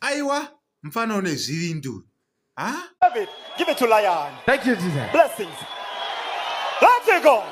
aiwa mfana une zvivinduru ha David, give it to Lion. Thank you, Jesus. Blessings. Let it go.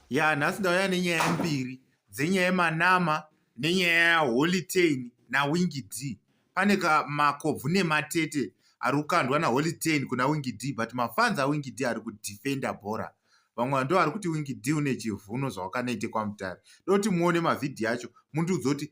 ya nhasi ndauya nenyaya mbiri dzenyaya yemanama nenyaya yaholy tain nawingi d pane ka makobvu nematete ari kukandwa naholy tain kuna wingi d but mafans awingi d ari kudefenda bhora vamwe vanhu ndovari kuti wingi d une chivhuno zvawakanoite kwamutare doti muone mavhidhiyo acho mundiudza kuti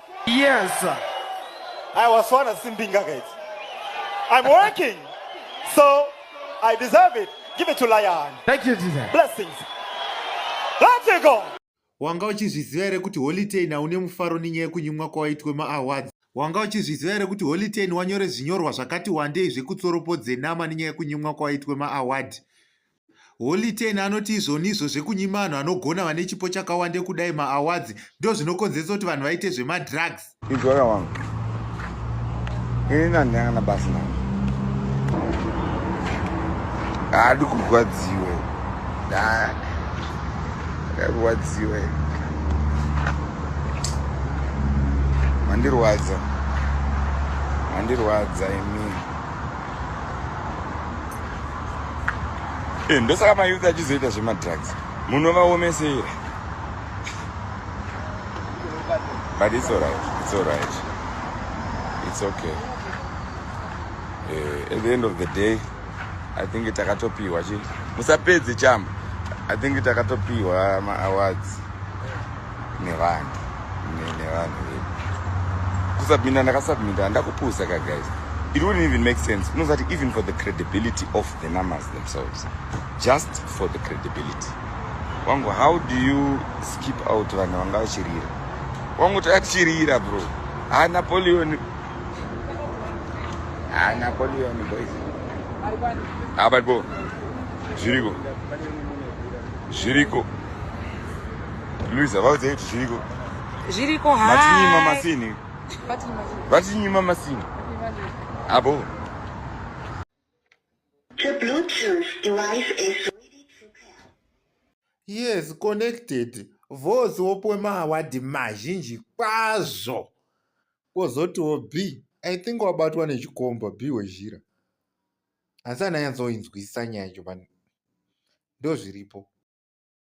Yes. I was sworn as Simbinga, guys. I'm working, so I deserve it. Give it to Lion. Thank you, Jesus. Blessings. Let it go. Wanga uchizviziva here kuti Holitain haune mufaro nenyaya yekunyimwa kwawaitwe maawards? Wanga uchizviziva here kuti Holitain wanyore zvinyorwa zvakati wandei zvekutsoropo dzenama nenyaya yekunyimwa kwawaitwe maaward? Holy Ten anoti izvonizvo zvekunyima vanhu vanogona vane chipo chakawande kudai maawards ndo zvinokonzeresa kuti vanhu vaite zvemadrugs. Izvora wangu ini nandanga na basa navo haadi kurwadziwe ndarwadziwe mandirwadza mandirwadza imii Eh, ndosaka mayouth achizoita zvemadrugs munovaomesera but it's alright it's alright it's okay uh, at the end of the day i think takatopiwa chi musapedze chamba i think takatopiwa maawards nevanhu nevanhu vedu kusubmita ndakasubmita ndakupusa ka guys it wouldn't even make sense unozati even for the credibility of the numbers themselves just for the credibility wangu how do you skip out vanhu vanga vachirira wangu tachirira bro ha napoleon ha napoleon boys abadbo zviriko zviriko Luisa vaudze kuti zviriko. Zviriko hai. Vatinyima masini. Vatinyima masini. Abo. The Bluetooth device is ready to pair. Yes, connected. Voice wopo maawadi mazhinji kwazvo. Kozotiwo B. I think wabatwa nechikomba B wezhira. Asi ananyatsoinzwisisa nyaya yacho ndozviripo.